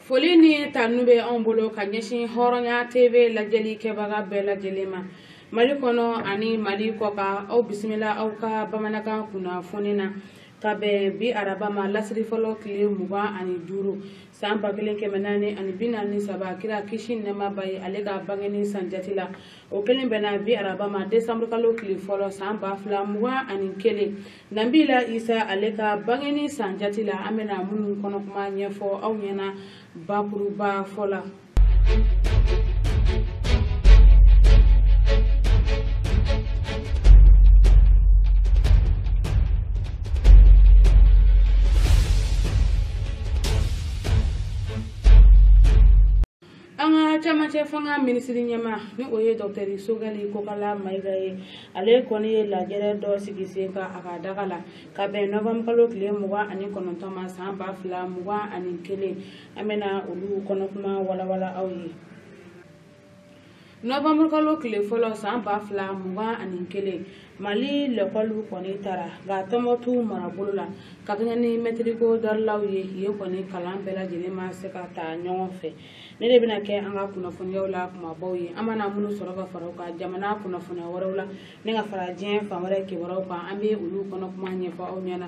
foli ni tanu bɛ anw bolo ka ɲɛsin hɔrɔnya tv lajɛli kɛbaga bɛɛ lajɛlen ma mali kɔnɔ ani mali kɔkan aw bisimila aw ka bamanankan kunnafoni na ka bɛn bi araba ma lasiri fɔlɔ tile mugan ani duuru san ba kelen kɛmɛ naani ani bi naani saba kira kisi nɛɛma b'a ye ale ka bangeni san jati la o kelen bɛnna bi araba ma desanburu kalo tile fɔlɔ san ba fila mugan ani kelen nabila isa ale ka bangeni san jati la an bɛna minnu kɔnɔ kuma ɲɛfɔ aw ɲɛna bakurubafɔ la cɛmancɛ fanga minisiri ɲɛmaa ni o ye dɔktɛri sogɛli kokala mayiga ye ale kɔni ye lajɛrɛ dɔ sigi sen kan a ka daga la ka bɛn nowanburukalo tile mugan ani kɔnɔntɔn ma san ba fila mugan ani kelen an bɛna olu kɔnɔ kuma walawala aw ye nowanburukalo tile fɔlɔ san ba fila mugan ani kelen mali lɛkɔliw kɔni tara nka tɔnbɔtu marabolo la ka kɛɲɛ ni mɛtiriko daliluw ye yen kɔni kalan bɛɛ lajɛlen ma se ka ta ɲɔgɔn fɛ nin de bɛna kɛ an ka kunnafoniyaw la kumabaw ye an mana minnu sɔrɔ ka fara u kan jamana kunnafoniya wɛrɛw la ni ka fara diɲɛ fan wɛrɛ kibaruyaw kan an bɛ olu kɔnɔ kuma ɲɛfɔ aw ɲɛna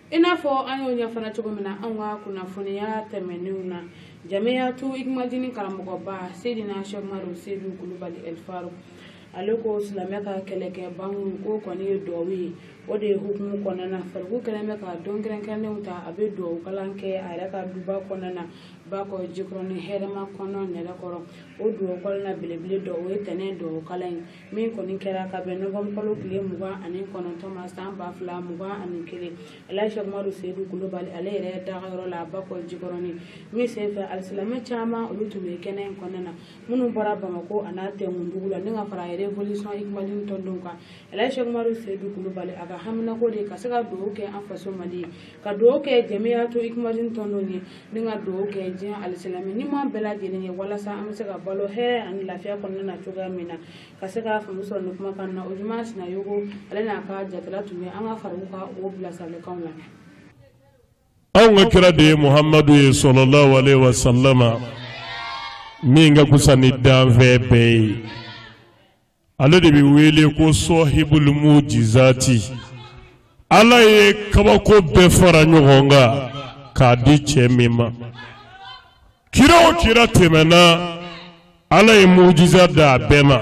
i n'a fɔ an y'o ɲɛfana cogo min na anw ka kunnafoniya tɛmɛnenw na jamiyatu ikimadini karamɔgɔba sedina sɛkumaru sedu kulubali ɛlfaruku ale ko silamɛ ka kɛlɛkɛ banku ko kɔni ye duwawu ye o de ye hukumu kɔnɔna na faruku kɛlen bɛ ka don kɛrɛnkɛrɛnnenw ta a bɛ duwawu kalan kɛ a yɛrɛ ka duba kɔnɔna na bakɔ jikɔrɔni hɛrɛmakɔnɔ nɛrɛkɔrɔ o duwawu kalan na belebele dɔ o ye ntɛnɛn duwawu kalan ye min kɔni kɛra ka bɛn nowanburu kalo tile mugan ani kɔnɔntɔn ma san ba fila mugan ani kelen al sɛkumaru sedu kulubali ale yɛrɛ dagayɔrɔ la bakɔ jikɔrɔni min senfɛ alisilamɛ caman olu tun bɛ kɛnɛ in kɔnɔna na minnu bɔra bamakɔ a n'a tɛnkundugu la ni ka fara yɛrɛ revolisɔn ikimadini tɔndenw kan al sɛkumaru sedu kulubali a ka haminanko de ka se ka dugawu kɛ an faso mali ye ka dugawu kɛ jamiyatu ikimadini tɔndenw ye ni ka dugawu kɛ diɲɛ alisilamɛ ni maa bɛɛ lajɛlen ye walasa an bɛ se ka balo hɛrɛ ani lafiya kɔnɔna na cogoya min na ka se ka faamu sɔrɔ nin kuma kan na ojuma sinayɔgɔ ale n'a ka jatala tun bɛ an ka faruku ka o bilasiralikanw la anw ka kira de ye muhamadu ye salalahu alehi wa salama min ka kusa ni danfɛn bɛɛ ye ale de bɛ wele ko sɔhibul mujizati ala ye kabako bɛɛ fara ɲɔgɔn kan k'a di cɛ min ma kira o kira tɛmɛna ala ye mujiza d'a bɛɛ ma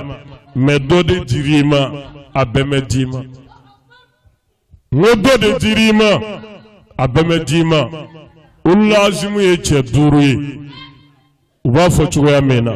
mɛ dɔ de dir'i ma a bɛɛ mɛ d'i ma n ko dɔ de dir'i ma a bɛɛ mɛ d'i ma ulul azimu ye cɛ duuru ye u b'a fɔ cogoya min na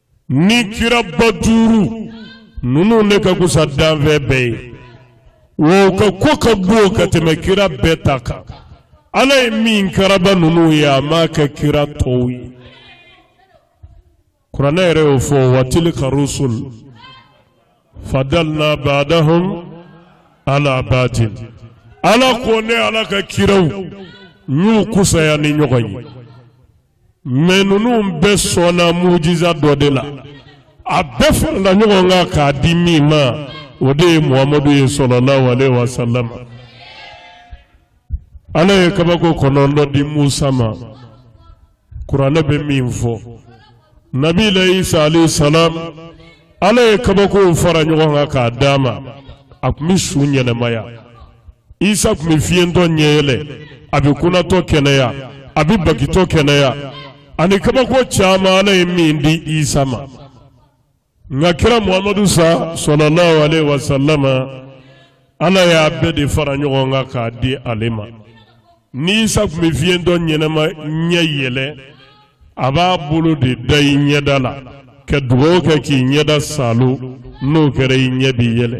ni kira ba duuru ninnu ne ka kusa danfɛn bɛɛ ye wa u ka ko ka bon ka tɛmɛ kira bɛɛ ta kan ala ye min karaba ninnu ye a m'a kɛ kira tɔw ye kuranɛ yɛrɛ y'o fɔ wa tilika rusul fadalna badahum ala badin ala ko ne ala ka kiraw n y'u kusaya ni ɲɔgɔn ye mɛ ninnu bɛɛ sɔnna mujiza dɔ de la a bɛɛ farala ɲɔgɔn kan k'a di min ma o de ye muhamadu ye sɔlɔlahu aleyhi wa salam ala ye kabako kɔnɔntɔn di musa ma kuranɛ bɛ min fɔ nabila isa aleyhi salam ala ye kabakow fara ɲɔgɔn kan k'a d'a ma a tun bɛ su ɲɛnamaya isa tun bɛ fiyentɔ ɲɛ yɛlɛ a bɛ kunatɔ kɛnɛya a bɛ bagitɔ kɛnɛya ani kabako caman ala ye min di isa ma nka kira muhamadu sa sɔlɔlahu aleyhi wa salama ala y'a bɛɛ de fara ɲɔgɔn kan k'a di ale ma ni isa tun bɛ fiyentɔ ɲɛnama ɲɛ yɛlɛ a b'a bolo de da i ɲɛda la ka dugawu kɛ k'i ɲɛda saalo n'o kɛra i ɲɛ bɛ yɛlɛ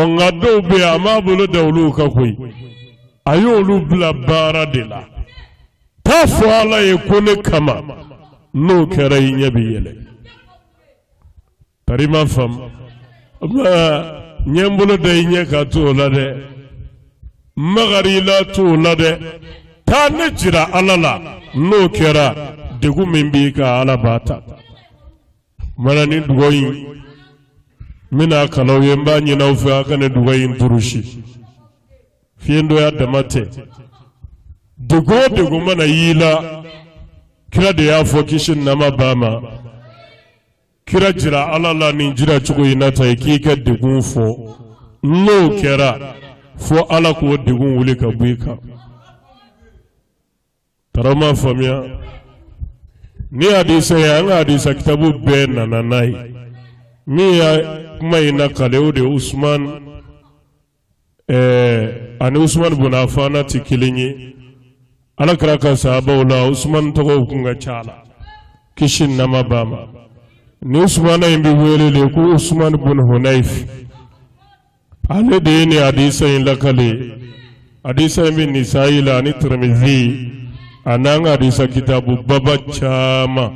ɔ nka dɔw bɛ yen a m'a bolo da olu kan koyi a y'olu bila baara de la t'a fɔ ala ye ko ne kama n'o kɛra i ɲɛ bɛ yɛlɛ tari i m'a faamu n ye n bolo da i ɲɛ kan t'o la dɛ magar'i la t'o la dɛ taa ne jira ala la n'o kɛra degun min b'i kan ala b'a ta. mana nin dugawu in n bɛna kalan aw ye n b'a ɲini aw fɛ a ka nin dugawu in durusi fiyentɔya dama tɛ degun o degun mana y'i la kira de y'a fɔ kisi ni nɛɛma b'a ma kira jira ala la nin jira cogo in na tan i k'i ka degun fɔ n'o kɛra fo ala k'o degun wuli ka bɔ i kan Taara ma faamuya ni hadisa ye an ka hadisa kitabu bɛɛ nana n'a ye min y'a kuma in lakale o de ye Usman ɛɛ ani Usman bun Afan tɛ kelen ye ala kira ka sahabaw la Usman tɔgɔw kun ka ca a la kisi ni nɛɛma b'a ma nin Usmana in bɛ wele de ko Usman bun Hunayf ale de ye nin hadisa in lakale hadisa in bɛ nisayi la ani tiramizi an'an ka hadisa kitabu baba caman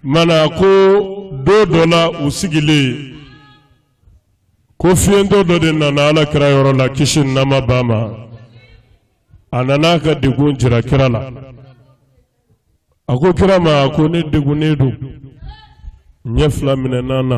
mana ko don dɔ la u sigilen ko fiyentɔ dɔ de nana ala kira yɔrɔ la kisi ni nɛɛma b'a ma a nana a ka degun jira kira la a ko kira ma a ko ne degunnen don ɲɛ fila minɛna n na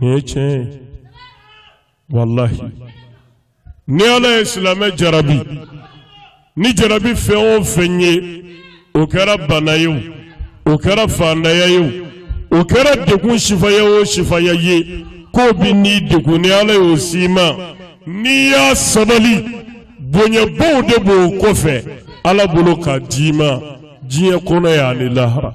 nin ye tiɲɛ ye walahi ni ala ye silamɛ jarabi ni jarabi fɛn o fɛn ye o kɛra bana ye o o kɛra faantanya ye o o kɛra degun sifaya o sifaya ye k'o b'i ni degun ni ala y'o s'i ma n'i y'a sabali bonyabaw de b'o kɔfɛ ala bolo k'a d'i ma diɲɛ kɔnɔ yani lahara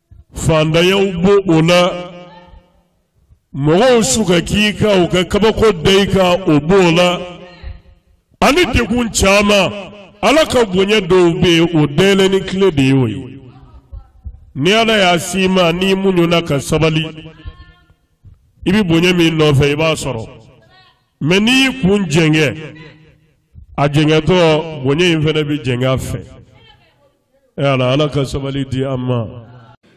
faantanyaw b'o la mɔgɔw su ka k'i kan u ka kabako da i kan o b'o la ani degun caman ala ka bonya dɔw bɛ yen o dayɛlɛni kile de ye o ye ni ala y'a s'i ma n'i muɲuna ka sabali i bɛ bonya min nɔfɛ i b'a sɔrɔ mɛ n'i y'i kun jɛngɛ a jɛngɛtɔ bonya in fana bɛ jɛngɛ a fɛ e ala ala ka sabali di an ma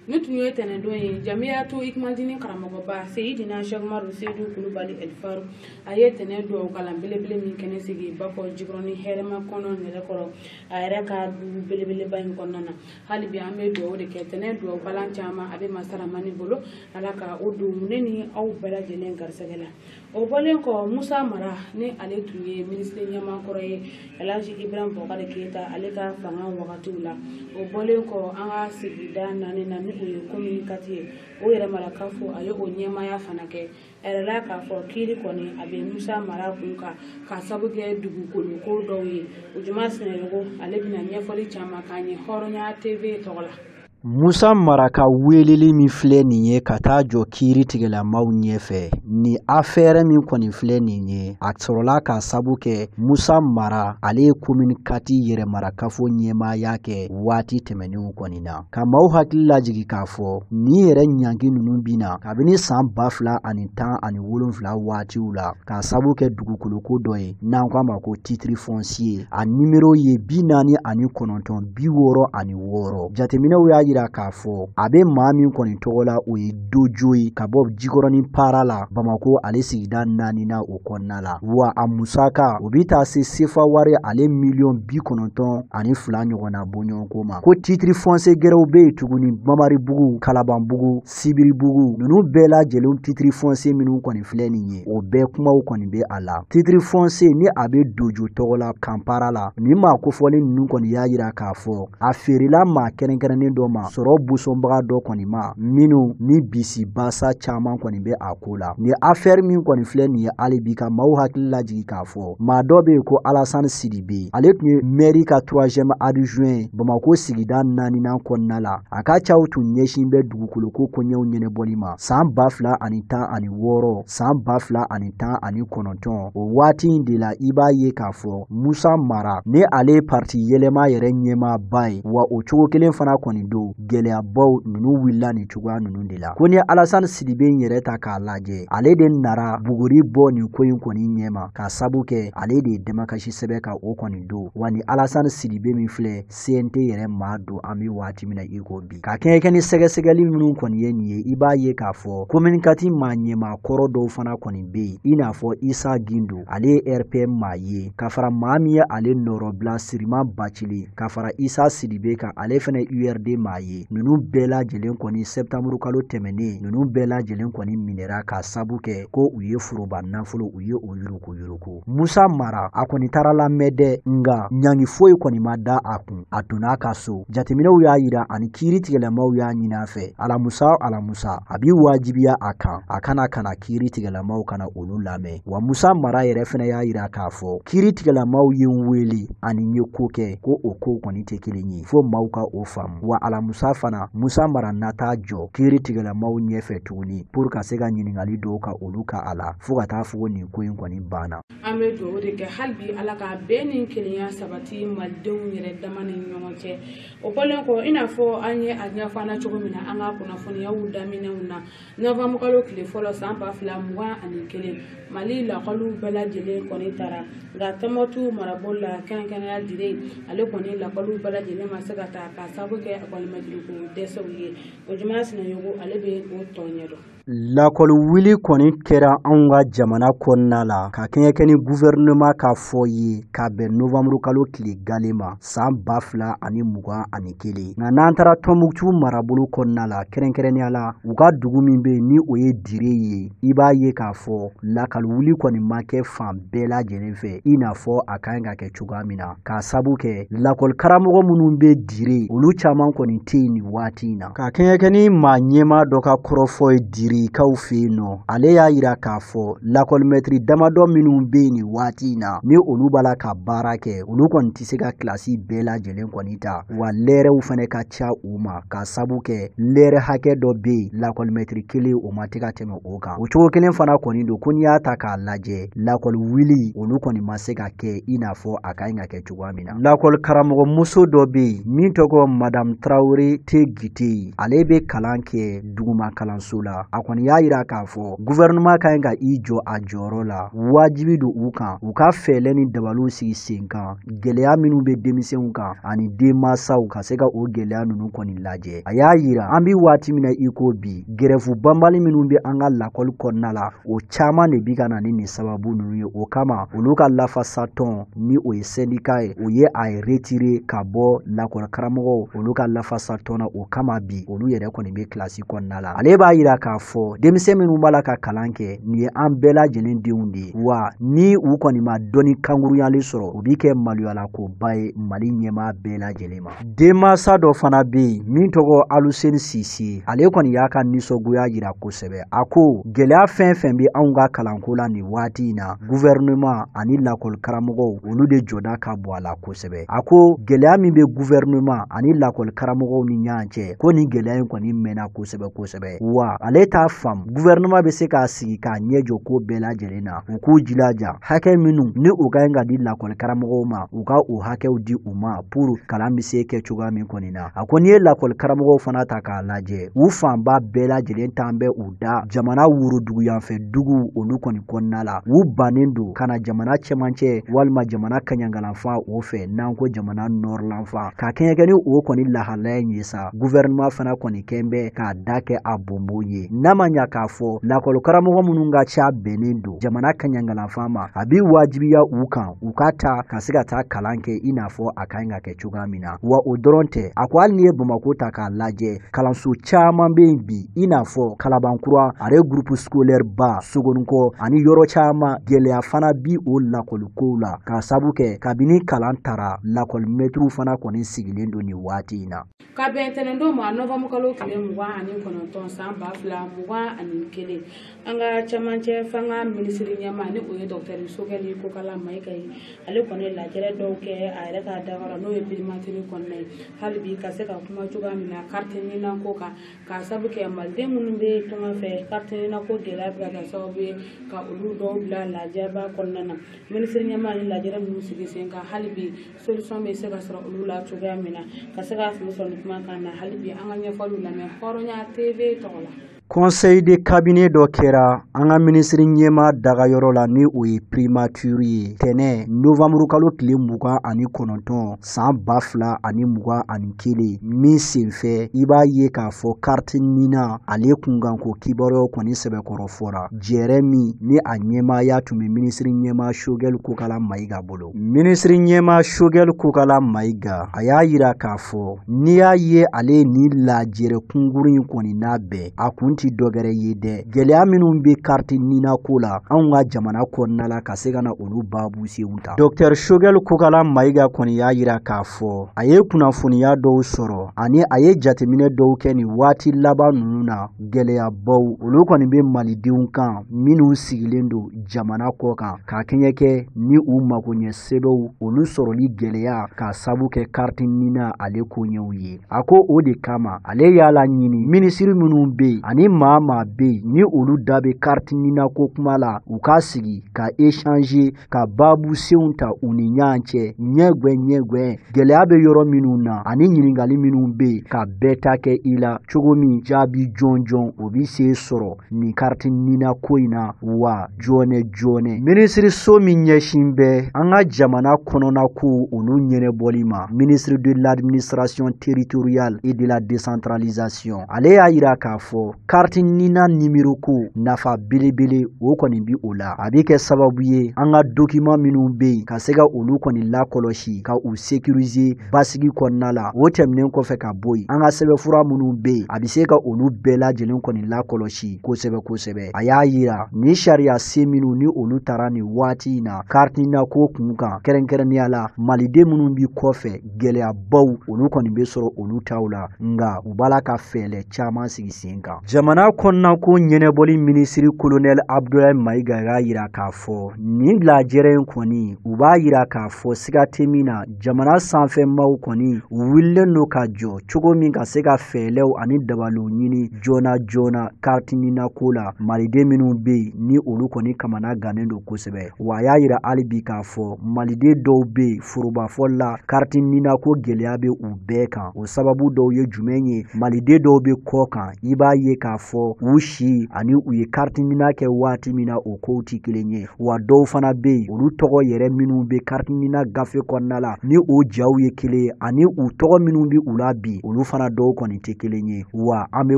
nin tun ye tɛnɛndon ye jamiyatu ikmadini karamɔgɔba seyidina sɛki umaru seyidu kulubali ɛlifaruku a ye tɛnɛ duwawu kalan belebele min kɛnɛ sigi bakɔjikɔrɔni hɛrɛmakɔnɔ nɛrɛkɔrɔ a yɛrɛ ka du belebeleba in kɔnɔna na hali bi an bɛ duwawu de kɛ tɛnɛ duwawu kalan caman a bɛ masa ramani bolo ala ka o don ne ni aw bɛɛ lajɛlen garisɛgɛ la o bɔlen kɔ musa mara ni ale tun ye minisiri ɲɛmaa kɔrɔ ye alhaji ibrahim bɔkari keyita ale ka fanga wagatiw la o bɔlen kɔ an ka sigida naaninan ni o ye komini kati ye o yɛrɛmara kafo a ye o ɲɛmaaya fana kɛ a yɛrɛ la k'a fɔ kiiri kɔni a bɛ musa mara kun kan k'a sabu kɛ dugukolo ko dɔw ye ojuma sinayɔgɔ ale bɛna ɲɛfɔli caman k'an ye hɔrɔnya tv tɔgɔ la Musa mara ka weleli min filɛ nin ye ka taa jɔ kiiri tigɛlamaw ɲɛfɛ ni afɛɛrɛ min kɔni filɛ nin ye a sɔrɔla k'a sabu kɛ musa mara ale ye komini kati yɛrɛmarakafo ɲɛmaaya kɛ waati tɛmɛnenw kɔni na ka maaw hakili lajigi k'a fɔ nin yɛrɛ ɲangi ninnu binna kabini san ba fila ani tan ani wolonfila waatiw la k'a sabu kɛ dugukoloko dɔ ye n'an k'a ma ko titiri fɔnsiye a nimero ye bi naani ani kɔnɔntɔn bi wɔɔrɔ ani wɔɔrɔ jateminɛw y'a yira k'a fɔ a bɛ maa min kɔni tɔgɔ la o ye dojo ye ka bɔ jikɔrɔni para la bamako ale sigida naaninan o kɔnɔna la wa a musaka o bɛ taa se sefa wari ale miliyɔn bi kɔnɔntɔn ani fila ɲɔgɔnna bɔɲɔgɔnko ma ko titiri fɔnse gɛrɛw bɛ yen tuguni mamaribugu kalabanbugu sibiribugu ninnu bɛɛ lajɛlen titiri fɔnse minnu kɔni filɛ nin ye o bɛɛ kumaw kɔni bɛ a la titiri fɔnse ni a bɛ dojo tɔgɔ la kanpara la nin maa kofɔlen ninnu kɔni y'a yira k'a fɔ a feerela maa kɛrɛnkɛrɛnnen dɔ ma sɔrɔ busɔnbaga dɔ kɔni ma minnu ni bisibasa caman kɔni bɛ a ko la nin afɛɛrɛ min kɔni filɛ nin ye hali bi ka maaw hakili lajigi k'a fɔ maa dɔ bɛ yen ko alasani sidibe ale tun ye mɛri ka troisième adjoint bamako sigida naaninan kɔnɔna la A ka caw tun ɲɛsin bɛ dugukolo ko koɲɛw ɲɛnabɔli ma san ba fila ani tan ani wɔɔrɔ san ba fila ani tan ani kɔnɔntɔn o waati in de la i b'a ye k'a fɔ musa mara ni ale pariti yɛlɛma yɛrɛ ɲɛmaaba ye wa o cogo kelen fana kɔni don gɛlɛyabaw ninnu wulila nin cogoya ninnu de la ko n'i ye alasani sidibe in yɛrɛ ta k'a lajɛ ale de nara buguri bɔ nin ko in kɔni ɲɛma k'a sabu kɛ ale de ye damakasi sɛbɛn ka o kɔni don wa ni alasani sidibe min filɛ cnt yɛrɛ maa don an bɛ waati min na i ko bi ka kɛɲɛ kɛ ni sɛgɛsɛgɛli minnu kɔni ye nin ye i b'a ye k'a fɔ komini kati maa ɲɛmaa kɔrɔ dɔw fana kɔni bɛ yen i n'a fɔ isa gindo ale ye rpm maa ye ka fara maa min ye ale nɔrɔbila siriman bacili ka fara isa sidibe kan ale fana urd maa ye ninnu bɛɛ lajɛlen kɔni sɛptanburu kalo tɛmɛnen ninnu bɛɛ lajɛlen kɔni minɛra k'a sabu kɛ ko u ye foroba nafolo u ye o yuruku ko musa mara a kɔni taara lamɛn dɛ nga ɲangi foyi kɔni ma da a kun a donna a ka so jateminɛw y'a yira ani kiiri tigɛlamaw y'a ɲini a fɛ alamusa alamusa a bi wajibiya a kan a ka na ka na kiiri tigɛlamaw ka na olu lamɛn wa musa mara yɛrɛ fɛnɛ y'a yira k'a fɔ kiiri tigɛlamaw ye n wele ani n ye ko kɛ ko o kow kɔni tɛ kelen ye fo maaw ka o faamu wa alamusa fana musa mara na taa jɔ kiiri tigɛlamaw ɲɛfɛ tuguni pour ka se ka ɲiningali dɔw ka olu kɛ a la fo ka taa fɔ nin ko in kɔni banna an bɛ dugawu de kɛ hali bi ala ka bɛn ni kelenya sabati malidenw yɛrɛ dama ni ɲɔgɔn cɛ o kɔlen kɔ i n'a fɔ an ye a ɲɛfɔ cogo min na an ka kunnafoniyaw daminɛw na nowanburukalo tile fɔlɔ san ba fila mugan ani kelen mali lakɔliw bɛɛ lajɛlen kɔni taara nka tɔnbukutu marabolo la kɛrɛnkɛrɛnnenya dire ale kɔni lakɔliw bɛɛ lajɛlen ma se ka taa ka sabu kɛ lakɔlimɛtiriko dɛsɛw ye ojuma sinayogo ale bɛ o tɔ ɲɛdɔn Lakɔli wuli kɔni kɛra anw ka jamana kɔnɔna la ka kɛɲɛ kɛ ni gouvernement ka fɔ ye ka bɛn novembre kalo tile gale ma san ba fila ani mugan ani kelen nka n'an taara Tɔnbukutu marabolo kɔnɔna la kɛrɛnkɛrɛnnenya la u ka dugu min bɛ yen ni o ye Dire ye i b'a ye k'a fɔ lakɔli wuli kɔni ma kɛ fan bɛɛ lajɛlen fɛ i n'a fɔ a ka ɲi ka kɛ cogoya min na k'a sabu kɛ lakɔli karamɔgɔ minnu bɛ Dire olu caman kɔni tɛ yen nin waati in na. ka kɛɲɛ kɛ ni maa ɲɛmaa dɔ ka kɔrɔfɔ ye direkaw fɛ yen nɔ ale y'a yira k'a fɔ lakɔlimɛtiri damadɔ minnu bɛ yen nin waati in na ni olu b'a la ka baara kɛ olu kɔni tɛ se ka kilasi bɛɛ lajɛlen kɔni ta wa lɛɛrɛw fana ka ca u ma k'a sabu kɛ lɛɛrɛ hakɛ dɔ bɛ yen lakɔlimɛtiri kelen o ma tɛ ka tɛmɛ o kan o cogo kelen fana kɔni don ko n'i y'a ta k'a lajɛ lakɔli wuli olu kɔni ma se ka kɛ i n'a fɔ a ka ɲi ka kɛ cogo cogoya min na lakɔli karamɔgɔ muso dɔ bɛ yen min tɔgɔ madamu tarawele tegite ye ale bɛ kalan kɛ duguma kalanso la a kɔni y'a yira k'a fɔ guvɛrɛnɛman ka ɲi ka i jɔ a jɔyɔrɔ la wajibi don u kan u ka fɛɛlɛ ni dabaliw sigi sen kan gɛlɛya minnu bɛ denmisɛnw kan ani denmansaw ka se ka o gɛlɛya ninnu kɔni lajɛ a y'a yira an bɛ waati min na i ko bi gɛrɛfu banbali minnu bɛ an ka lakɔli kɔnɔna la o caman de bi ka na ni nin sababu ninnu ye o kama olu ka lafasatɔn ni o ye sɛndika ye o ye a retire ka bɔ lakɔli karamɔgɔw olu ka lafasatɔn na o kama bi olu yɛrɛ kɔni bɛ kilasi kɔnɔna la ale b'a yira k'a fɔ denmisɛn minnu b'a la ka kalan kɛ nin ye an bɛɛ lajɛlen denw de wa ni u kɔni ma dɔnni kankuruyalen sɔrɔ o bi kɛ maloyalakoba ye mali ɲɛmaa bɛɛ lajɛlen ma denmansa dɔ fana bɛ yen min tɔgɔ aluseni sise ale kɔni y'a ka nisɔngoya yira kosɛbɛ a ko gɛlɛya fɛn fɛn bɛ anw ka kalanko la nin waati in na guvɛrɛnɛman ani lakɔli karamɔgɔw olu de jɔda ka bon a la kosɛbɛ a ko gɛlɛya min bɛ guvɛrɛnɛman ani lakɔli karamɔgɔw ni ɲɔgɔn cɛ ko nin gɛlɛya in kɔni mɛnna kosɛbɛ kosɛbɛ wa ale t'a faamu guvɛrɛnɛman bɛ se k'a sigi k'a ɲɛ jɔ ko bɛɛ lajɛlen na u k'u jilaja hakɛ minnu ni u ka ɲi ka di lakɔli karamɔgɔw ma u ka o hakɛw di u ma pour kalan bɛ se kɛ cogoya min kɔni na a ko n'i ye lakɔli karamɔgɔw fana ta k'a lajɛ u fanba bɛɛ lajɛlen t'an bɛ u da jamana woroduguyanfɛ duguw olu kɔni kɔnɔna la u bannen don ka na jamana cɛmancɛ walima jamana kaɲangalanfan o fɛ n'an ko jamana nɔrɔlanfan ka kɛɲɛkɛ ni o kɔni lahalaya in ye sa guvɛrɛnɛman fana kɔni kɛn bɛ k'a da kɛ a bonbon ye n'a ma ɲa k'a fɔ lakɔli karamɔgɔ minnu ka ca bɛnnen don jamana kaɲangalanfan ma a b'i wajibiya u kan u ka ta ka se ka taa kalan kɛ i n'a fɔ a ka ɲi ka kɛ cogoya min na wa o dɔrɔn tɛ a ko hali n'i ye bamako ta k'a lajɛ kalanso caman bɛ yen bi i n'a fɔ kalabankura ale groupe scolaire ba sogoninko ani yɔrɔ caman gɛlɛya fana bi o lakɔlikow la k'a sabu kɛ kabini kalan tara lakɔlimɛtiriw fana kɔni sigilen don nin waati in na ka bɛn tɛnɛndon ma novamburu kalo tile mugan ani kɔnɔntɔn san ba fila mugan ani kelen an ka cɛmancɛ fanga minisiri ɲɛmaa ni o ye dɔktɛri sogɛli kokala mayiga ye ale kɔni lajɛrɛ dɔw kɛ a yɛrɛ ka dagara n'o ye primature kɔnɔna ye hali bi ka se ka kuma cogoya min na kariti nina ko kan k'a sabu kɛ maliden minnu bɛ tunga fɛ kariti nina ko gɛlɛya bɛ ka kɛ sababu ye ka olu dɔw bila lajaba kɔnɔna na minisiri ɲɛmaa ni lajɛrɛ minnu sigi sen kan hali bi solution bɛ se ka sɔrɔ olu la cogoya min na ka se ka fili sɔrɔ nin kuma kan na hali bi an ka ɲɛfɔliw lamɛn hɔrɔnya tv tɔgɔ la conseil de cabinet dɔ kɛra an ka minisiri ɲɛmaa dagayɔrɔ la ni o ye primature ye tɛnɛ novamburu kalo tile mugan ani kɔnɔntɔn san ba fila ani mugan ani kelen min senfɛ i b'a ye k'a fɔ kariti nina ale kunkanko kibaruyaw kɔni sɛbɛkɔrɔ fɔra jɛrɛ min ni a ɲɛmaaya tun bɛ minisiri ɲɛmaa sogɛli kokala mayiga bolo minisiri ɲɛmaa sogɛli kokala mayiga a y'a yira k'a fɔ n'i y'a ye ale ye nin lajɛrɛ kunguru in kɔni labɛn a kun tɛ dɔgɛrɛ ye dɛ gɛlɛya minnu bɛ kariti nina ko la anw ka jamana kɔnɔna la ka se ka na olu baabu senw ta dɔktɛr sogɛli kokala mayiga kɔni y'a yira k'a fɔ a ye kunnafoniya dɔw sɔrɔ ani a ye jateminɛ dɔw kɛ nin waati laban ninnu na gɛlɛyabaw olu kɔni bɛ malidenw kan minnu sigilen don jamana kɔkan ka kɛɲɛ kɛ ni u magoɲɛ sɛbɛnw olu sɔrɔli gɛlɛya k'a sabu kɛ kariti nina ale koɲɛw ye a ko o de kama ale y'a laɲini minisiri minnu bɛ yen ani maa maa bɛ yen ni olu da bɛ kariti nina ko kuma la u ka sigi ka échanger ka baabu senw ta u ni ɲɔgɔn cɛ ɲɛgwɛ ɲɛgwɛ Gɛlɛya bɛ yɔrɔ minnu na ani ɲininkali minnu bɛ yen ka bɛɛ ta kɛ i la cogo min jaabi jɔnjɔn o bɛ se sɔrɔ nin kariti nina ko in na wa joona joona minisiriso min ɲɛsin bɛ an ka jamana kɔnɔnakow olu ɲɛnabɔli ma ministre de l'administration territoriale et de la décentralisation ale y'a yira k'a fɔ kariti nina nimero ko nafa belebele o kɔni bi o la a bɛ kɛ sababu ye an ka dokiman minnu bɛ yen ka se ka olu kɔni lakɔlɔsi ka u sekirize basigi kɔnɔna la o tɛmɛnen kɔfɛ ka bɔ yen an ka sɛbɛnfura minnu bɛ yen a bɛ se ka olu bɛɛ lajɛlen kɔni lakɔlɔsi kosɛbɛ kosɛbɛ a y'a yira ni sariya sen minnu ni olu tara nin waati in na kariti nina ko kun kan kɛrɛnkɛrɛnnenya la maliden minnu bi kɔfɛ gɛlɛyabaw olu kɔni bɛ sɔrɔ olu taw la nka u b'a la ka fɛɛlɛ caman sigi sen kan jamana kɔnɔna ko ɲɛnabɔli minisiri kolonɛli abudulayi mayiga y'a yira k'a fɔ nin lajɛrɛ in kɔni u b'a yira k'a fɔ siga tɛ min na jamana sanfɛ maaw kɔni u wulilen don ka jɔ cogo min ka se ka fɛɛlɛw ani dabaliw ɲini joona joona kariti nina ko la maliden minnu bɛ yen ni olu kɔni kamana gannen don kosɛbɛ wa a y'a yira hali bi k'a fɔ maliden dɔw bɛ yen forobafɔli la kariti nina ko gɛlɛya bɛ u bɛɛ kan o sababu dɔw ye jumɛn ye maliden dɔw bɛ kɔ kan i b'a ye k'a fɔ u si ani u ye kariti nina kɛ waati min na o kow tɛ kelen ye wa dɔw fana bɛ yen olu tɔgɔ yɛrɛ minnu bɛ kariti nina gafe kɔnɔna la ni o jaw ye kelen ye ani u tɔgɔ minnu bɛ u la bi olu fana dɔw kɔni tɛ kelen ye wa an bɛ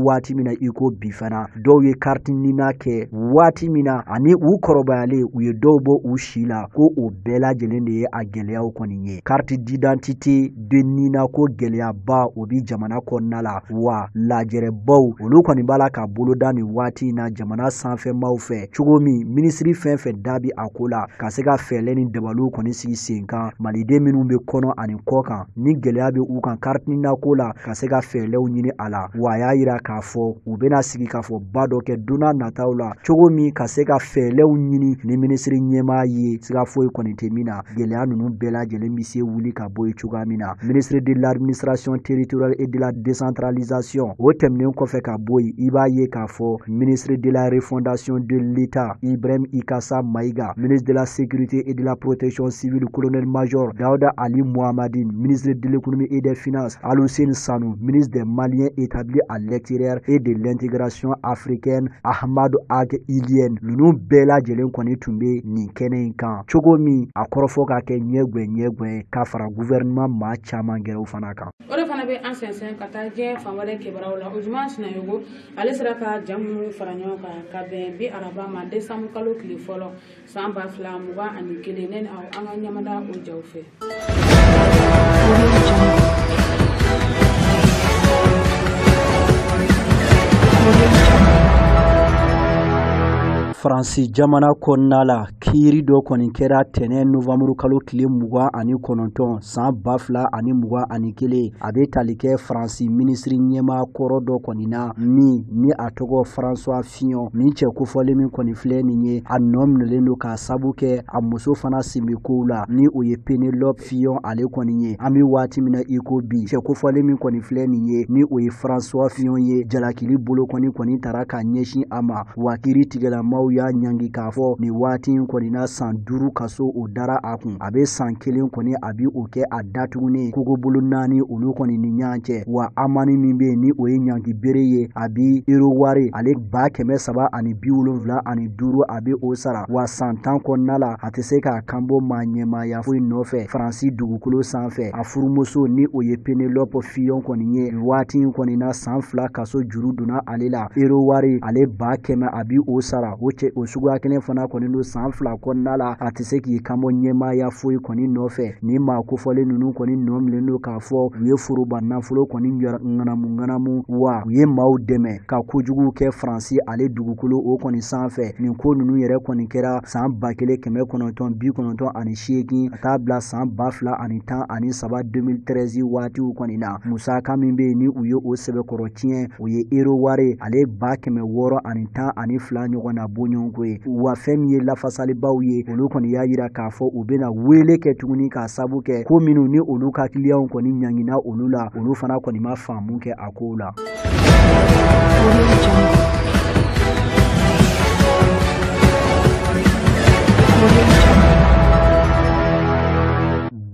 waati min na i ko bi fana dɔw ye kariti nina kɛ waati min na ani u kɔrɔbayalen u ye dɔw bɔ u si la ko o bɛɛ lajɛlen de ye a gɛlɛyaw kɔni ye kariti didantite de nina ko gɛlɛyaba o bi jamana kɔnɔna la wa lajɛrɛbaw olu kɔni b'a la ka boloda nin waati in na jamana sanfɛmaw fɛ cogo min minisiri fɛn fɛn da bi a ko la ka se ka fɛɛlɛ ni dabaliw kɔni sigi sen kan maliden minnu bɛ kɔnɔ ani kɔ kan ni gɛlɛya bɛ u kan kariti nina ko la ka se ka fɛɛlɛw ɲini a la wa a y'a yira k'a fɔ u bɛna sigikafɔba dɔ kɛ donna nataw la cogo min ka se ka fɛɛlɛw ɲini ni minisiri ɲɛmaa ye siga foyi kɔni tɛ min na gɛlɛya ninnu bɛɛ lajɛlen bɛ se wuli ka bɔ yen cogoya min na ministre de l'administration territoriale et de la décentralisation o tɛmɛnen kɔfɛ ka bɔ yen i b'a ye k'a fɔ ministre de la refondation de l'État Ibrahim Ikassa Maïga ministre de la Sécurité et de la Protection civile, colonel-major Daouda Ali Mohammedine, ministre de l'économie et des finances, Alousséni Sanou, ministre des Maliens établis à l'extérieur et de l'intégration africaine, Ahmadou Ag Ilyène, ninnu bɛɛ lajɛlen kɔni tun bɛ nin kɛnɛ in kan cogo min a kɔrɔfɔ ka kɛ ɲɛgwɛ ɲɛgwɛ ka fara gouvernement maa caman gɛrɛw fana kan o de fana bɛ an sɛnsɛn ka taa diɲɛ fan wɛrɛ kibaruyaw la ojuma sinayogo ale sera ka ja minnu fara ɲɔgɔn kan ka bɛn bi araba ma desanbu kalo tile fɔlɔ san ba fila mugan ani kelen ne ni aw an ka ɲamada o jaw fɛ faransi jamana kɔnɔna la Kiiri dɔ kɔni kɛra tɛnɛn novanburu kalo tile mugan ani kɔnɔntɔn san ba fila ani mugan ani kelen a bɛ tali kɛ faransi minisiri ɲɛmaa kɔrɔ dɔ kɔni na min ni a tɔgɔ françois fillon min cɛ kofɔlen min kɔni filɛ nin ye a nɔ minɛlen don k'a sabu kɛ a muso fana sen bɛ kow la ni o ye penelope fillon ale kɔni ye an bɛ waati min na i ko bi cɛ kofɔlen min kɔni filɛ nin ye ni o ye françois fillon ye jalakili bolo kɔni kɔni taara ka ɲɛsin a ma wa kiiri tigɛlamaw y'a ɲangi k'a fɔ nin waati in kɔni na san duuru kaso o dara a kun a bɛ san kelen kɔni a bi o kɛ a datugunnen kogobolo naani olu kɔni ni ɲɔgɔn cɛ wa amani min bɛ yen ni o ye ɲangi bere ye a bi euro wari ale ba kɛmɛ saba ani bi wolonwula ani duuru a bɛ o sara wa san tan kɔnɔna la a tɛ se k'a kanbɔ maa ɲɛmaaya foyi nɔfɛ faransi dugukolo sanfɛ a furumuso ni o ye penelope fillon kɔni ye waati in kɔni na san fila ka so juru donna ale la euro wari ale ba kɛmɛ a bi o sara o cɛ o suguya kelen fana kɔni don san fila kɔnɔna la a tɛ se k'i kanbɔ ɲɛmaaya foyi kɔni nɔfɛ nin maa kofɔlen ninnu kɔni nɔ minɛlen don k'a fɔ u ye foroba nafolo kɔni ŋanamu ŋanamu wa u ye maaw dɛmɛ ka kojugu kɛ faransi ale dugukolo o kɔni sanfɛ nin ko ninnu yɛrɛ kɔni kɛra san ba kelen kɛmɛ kɔnɔntɔn bi kɔnɔntɔn ani seegin ka taa bila san ba fila ani tan ani saba 2013 waatiw kɔni na musaka min bɛ yen ni u ye o sɛbɛkɔrɔ tiɲɛ o ye euro wari ale ba kɛmɛ wɔɔrɔ ani tan ani fila ɲɔgɔn na bɔɲɔgɔnko ye wa fɛn min ye lafasalibaw ye olu kɔni y'a yira k'a fɔ u bɛna wele kɛ tuguni k'a sabu kɛ ko minnu ni olu ka kiliyanw kɔni ɲangina olu la olu fana kɔni ma faamu kɛ a kow la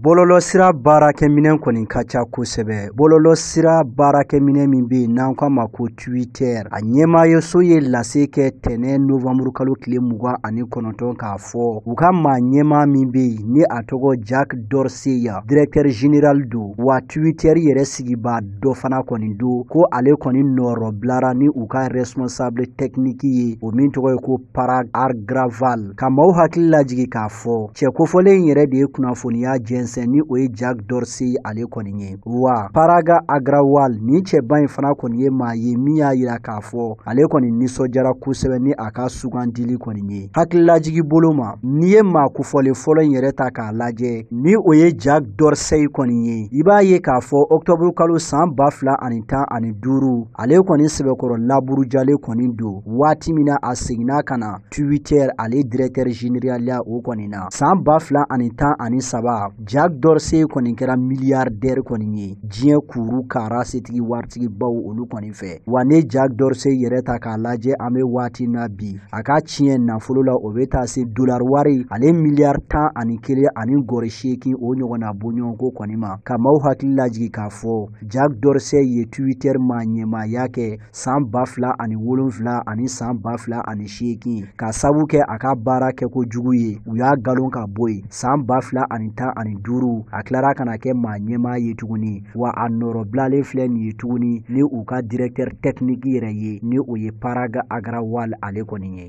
bɔlɔlɔsira baarakɛminɛn kɔni ka ca kosɛbɛ bɔlɔlɔsira baarakɛminɛn min bɛ yen n'an k'a ma ko twitter a ɲɛmaayaso ye lase kɛ tɛnɛ novanburu kalo tile mugan ani kɔnɔntɔn k'a fɔ u ka maa ɲɛmaa min bɛ yen ni a tɔgɔ jack dorsey a directeur général don wa twitter yɛrɛ sigibaa dɔ fana kɔni don ko ale kɔni nɔrɔbilara ni u ka responsable technique ye o min tɔgɔ ye ko parag agrawal ka maaw hakili lajigi k'a fɔ cɛ kofɔlen in yɛrɛ de ye kunnafoniya jɛnsɛn ni o ye jack dorsey ale kɔni ye wa parag agrawal nin cɛba in fana kɔni ye maa ye min y'a yira k'a fɔ ale kɔni nisɔndiyara kosɛbɛ ni a ka sugandili kɔni ye hakililajigi bolo ma n'i ye maa kofɔlen fɔlɔ in yɛrɛ ta k'a lajɛ ni o ye jack dorsey kɔni ye i b'a ye k'a fɔ ɔktɔburu kalo san ba fila ani tan ani duuru ale kɔni sɛbɛkɔrɔ laburujalen kɔni don waati min na a seginna ka na twitter ale directeur général ya o kɔni na san ba fila ani tan ani saba jack dorsey kɔni kɛra milliardaire kɔni ye diɲɛ kuru kara setigi waritigibaw olu kɔni fɛ wa n'i ye jack dorsey yɛrɛ ta k'a lajɛ an bɛ waati na bi a ka tiɲɛ nafolo la o bɛ taa se dolar wari ale miliyar tan ani kelen ani gɔri seegin o ɲɔgɔnna bɔɲɔgɔnko kɔni ma ka maaw hakili lajigi k'a fɔ jack dorsey ye twitter maaɲɛmaaya kɛ san ba fila ani wolonfila ani san ba fila ani seegin k'a sabu kɛ a ka baara kɛko jugu ye u y'a galon ka bɔ yen san ba fila ani tan ani duuru a tilara ka na kɛ maaɲɛmaa ye tuguni wa a nɔrɔbilalen filɛ nin ye tuguni ni u ka directeur technique yɛrɛ ye ni o ye parag agrawal ale kɔni ye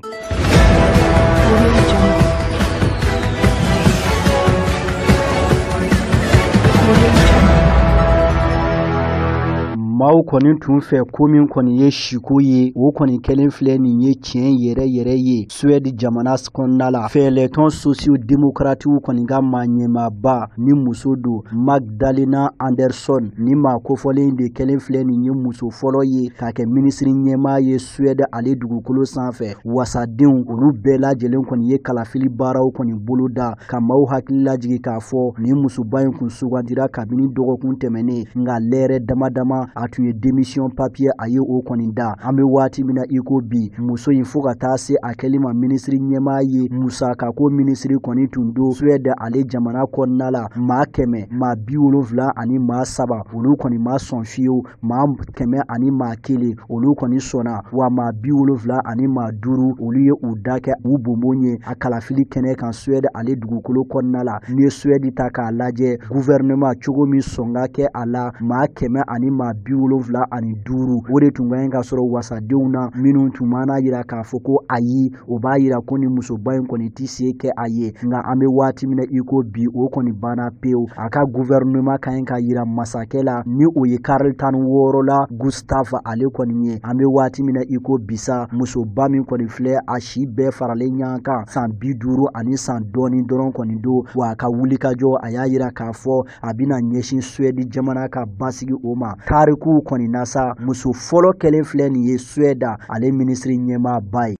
maaw kɔni tun fɛ ko min kɔni ye siko ye o kɔni kɛlen filɛ nin ye tiɲɛ yɛrɛ yɛrɛ ye suwɛdi jamana kɔnɔna la fɛɛlɛtɔn sosiyo demokratiw kɔni ka maaɲɛmaaba ni muso don magdalena andersson nin maa kofɔlen de kɛlen filɛ nin ye muso fɔlɔ ye ka kɛ minisiri ɲɛmaa ye Suède ale dugukolo sanfɛ wasadenw olu bɛɛ lajɛlen kɔni ye kalafili baaraw kɔni boloda ka maaw hakili lajigi k'a fɔ nin musoba in tun sugandira kabini dɔgɔkun tɛmɛnen nka lɛrɛ dama dama a tun ye demisiyɔn papiye a ye o kɔni da an bɛ waati min na i ko bi muso in fo ka taa se a kɛli ma minisiri ɲɛmaa ye musakako minisiri kɔni tun don suwɛdi ale jamana kɔnɔna la maa kɛmɛ maa bi wolonfila ani maa saba olu kɔni ma sɔn fiyewu maa kɛmɛ ani maa kelen olu kɔni sɔnna wa maa bi wolonfila ani maa duuru olu ye u da kɛ u bonbon ye a kalafili kɛnɛ kan suwɛdi ale dugukolo kɔnɔna la n'i ye suwɛdi ta k'a lajɛ guvɛrɛnɛma cogo min sɔn ka kɛ a la maa kɛmɛ ani maa bi wolonfila ani duuru o de tun ka ɲi ka sɔrɔ wasadenw na minnu tun man'a yira k'a fɔ ko ayi o b'a yira ko nin musoba in kɔni tɛ se kɛ a ye nka an bɛ waati min na i ko bi o kɔni banna pewu a ka guvɛrinema ka ɲi ka yira masakɛ la ni o ye karili tan ni wɔɔrɔ la gustave ale kɔni ye an bɛ waati min na i ko bi sa musoba min kɔni filɛ a si bɛɛ faralen ɲɔgɔn kan san bi duuru ani san dɔɔni dɔrɔn kɔni don wa a ka wulikajɔ a y'a yira k'a fɔ a bɛna ɲɛsin suwɛdi jamana ka basigi o ma tarikuw kɔni na sa muso fɔlɔ kɛlen filɛ nin ye suwɛdi ale minisiri ɲɛmaaba ye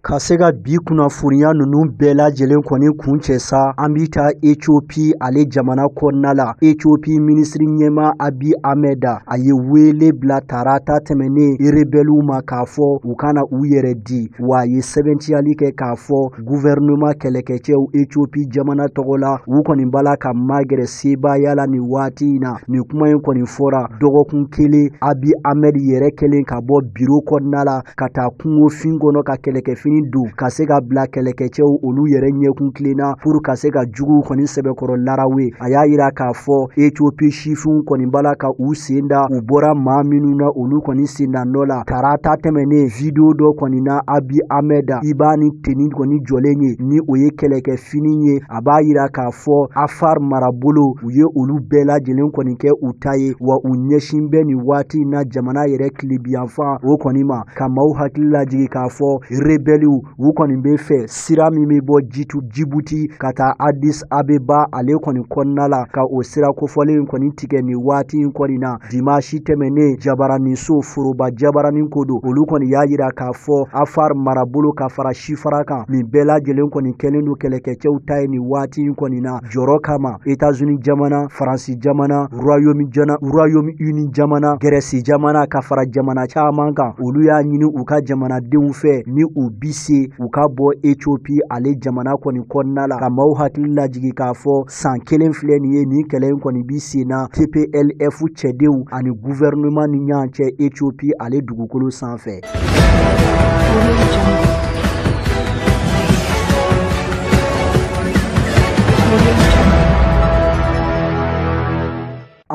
ka se ka bi kunnafoniya ninnu bɛɛ lajɛlen kɔni kuncɛ sa an bɛ taa etiopi ale jamana kɔnɔna la etiopi minisiri ɲɛmaa abi amɛda a ye wele bila tarata tɛmɛnen rebɛliw ma k'a fɔ u ka na u yɛrɛ di wa a ye sɛbɛntiyali kɛ k'a fɔ guvɛrɛnɛman kɛlɛkɛcɛw etiopi jamana tɔgɔ la u kɔni b'a la ka magɛrɛ sebaaya la nin waati in na nin kuma in kɔni fɔra dɔgɔkun kelen abi amɛd yɛrɛ kɛlen ka bɔ biro kɔnɔna la ka taa kungofin kɔnɔ ka kɛlɛkɛfini don ka se ka bila kɛlɛkɛcɛw olu yɛrɛ ɲɛ kuntilenna pour ka se ka juguw kɔni sɛbɛkɔrɔ larawe a y'a yira k'a fɔ etiopi sifinw kɔni b'a la ka u sen da u bɔra maa minnu na olu kɔni sen da nɔ la tarata tɛmɛnen video dɔ kɔni na abi amɛda i b'a ni teni kɔni jɔlen ye ni o ye kɛlɛkɛfini ye a b'a yira k'a fɔ afar marabolo u ye olu bɛɛ lajɛlen kɔni kɛ u ta ye wa u ɲɛsin bɛ nin waati in na jamana yɛrɛ tilebiyanfan o kɔni ma ka maaw hakili lajigi k'a fɔ rebɛliw u kɔni bɛ fɛ sira min bɛ bɔ jitu jibuti ka taa adis abeba ale kɔni kɔnɔna la ka o sira kofɔlen in kɔni tigɛ nin waati in kɔni na dimasi tɛmɛnnen jabaraniso foroba jabaranin ko don olu kɔni y'a yira k'a fɔ afar marabolo ka fara sifara kan nin bɛɛ lajɛlen kɔni kɛlen don kɛlɛkɛcɛw ta ye nin waati in kɔni na jɔrɔ kama etazuni jamana faransi jamana royaume jana royaume uni jamana gɛrɛsi jamana ka fara jamana caaman kan olu y'a ɲini u ka jamanadenw fɛ ni u bi se u ka bɔ etiopi ale jamana kɔni kɔnɔna la ka maaw hakili lajigi k'a fɔ saan kelen filɛ nin ye nin kɛlɛ in kɔni bi sen na tplf cɛdenw ani guvɛrɛnɛman ni ɲɔgɔn cɛ etiopi ale dugukolo sanfɛ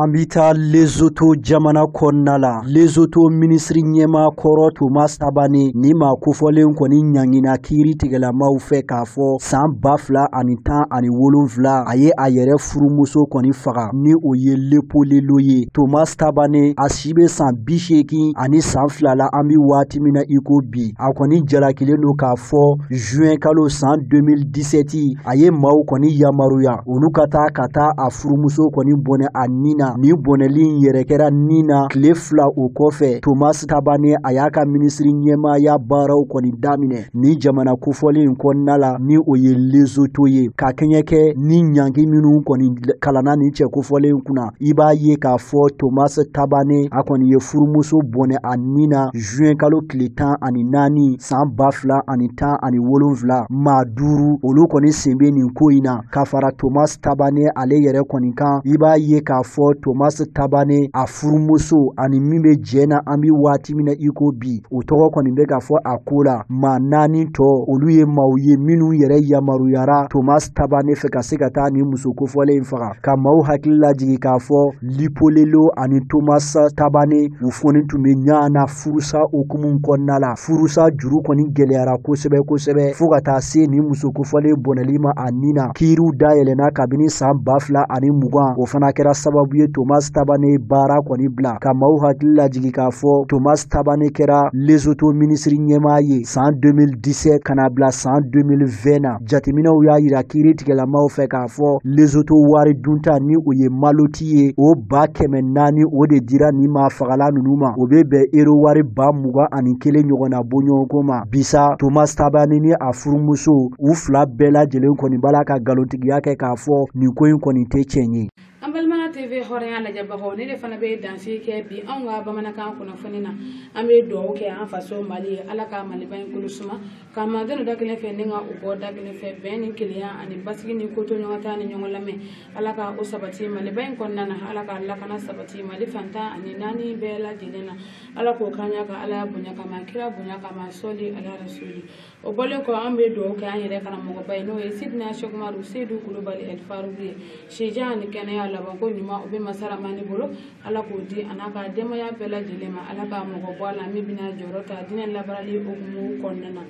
An bɛ taa Lesotho jamana kɔnɔna la, Lesotho minisiri ɲɛmaa kɔrɔ Thomas Thabane ni maa kofɔlen kɔni ɲangina kiiritigɛlamaw fɛ k'a fɔ san ba fila ani tan ani wolonfila a ye a yɛrɛ furumuso kɔni faga ni o ye Lepolelo ye, Thomas Thabane a i bɛ san bi seegin ani san fila la an bɛ waati min na i ko bi a kɔni jalakilen don k'a fɔ juin kalo san 2017 a ye maaw kɔni yamaruya olu ka taa ka taa a furumuso kɔni bɔnɛ a ni na nin bɔnɛli in yɛrɛ kɛra ni na tile fila o kɔfɛ tomas tabane a y'a ka minisiri ɲɛmaaya baaraw kɔni daminɛ nin jamana kofɔlen in kɔnɔna la ni o ye lezoto ye ka kɛɲɛ kɛ ni ɲangi minnu kɔni kalanna nin cɛ kofɔlen kunna i b'a ye k'a fɔ tomas tabane a kɔni ye furumuso bɔnɛ a ni na juin kalo tile tan ani naani saan ba fila ani tan ani wolonfila maa duuru olu kɔni sen bɛ nin ko in na ka fara tomas tabane ale yɛrɛ kɔni kan i b'a ye k'a fɔ tomasi tabane a furumuso ani min bɛ jɛ na an bɛ waati min na i ko bi o tɔgɔ kɔni bɛ k'a fɔ a ko la maa naani tɔ olu ye maaw ye minnu yɛrɛ yamaruyara tomasi tabane fɛ ka se ka taa nin muso kofɔlen in faga ka maaw hakili lajigi k'a fɔ lipolelo ani tomasi tabane u foni tun bɛ ɲɔgɔn na furusa hukumu kɔnɔna la furusa juru kɔni gɛlɛyara kosɛbɛ kosɛbɛ fo ka taa se nin muso kofɔlen bɔnɛli ma a ni na kiiriw dayɛlɛna kabini san ba fila ani mugan o fana kɛra sababu ye tomas tabane baara kɔni bila ka maaw hakili lajigi k'a fɔ tomas tabane kɛra lesoto minisiri ɲɛmaa ye san 2017 ka na bila san 2020 na Jateminɛw y'a yira kiiritigɛlamaw fɛ k'a fɔ lesoto wari dunta ni o ye maloti ye o ba kɛmɛ naani o de dira nin maafagala ninnu ma o bɛ bɛn ero wari ba mugan ani kelen ɲɔgɔn na bɔɲɔgɔnko ma bi sa tomas tabane ni a furumuso u fila bɛɛ lajɛlen kɔni b'a la ka nkalontigiya kɛ k'a fɔ nin ko in kɔni tɛ tiɲɛ ye an balimaya tv hɔrɔnya lajɛbagaw nin de fana bɛ dansigi kɛ bi anw ka bamanankan kunnafoni na an bɛ dugawu kɛ an faso mali ye ala ka maliba in kolo suma Ka magɛn da kelen fɛ ni ka u bɔ da kelen fɛ bɛn ni kelenya ani basigi ni kotoɲɔgɔntala ni ɲɔgɔn lamɛn ala ka o sabati mali ba in kɔnɔna na ala ka lakana sabati mali fan tan ani naani bɛɛ lajɛlen na ala k'o kan ka ala bonya kama kira bonya kama sɔli ala rasuli o bɔlen kɔ an bɛ dugawu kɛ an yɛrɛ karamɔgɔba ye n'o ye sidina sɛku umaru seyidu kulubali alifaruku ye sijan ani kɛnɛya labanko ɲuman o bɛ masa ramani bolo ala k'o di a n'a ka denbaya bɛɛ lajɛlen ma ala ka mɔgɔ bɔ a la min bɛna jɔyɔrɔ ta diinɛ labaarali hukumu kɔnɔna na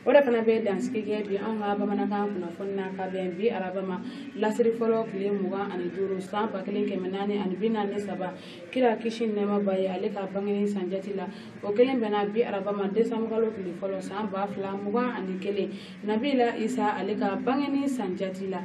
o de fana bɛ dansigi kɛ bi anw ka bamanankan kunnafoni na ka bɛn bi araba ma lasiri fɔlɔ tile mugan ani duuru san ba kelen kɛmɛ naani ani bi naani saba kira kisi nɛɛma b'a ye ale ka bangeni san jati la o kelen bɛnna bi araba ma desanbukalo tile fɔlɔ san ba fila mugan ani kelen nabila isa ale ka bangeni san jati la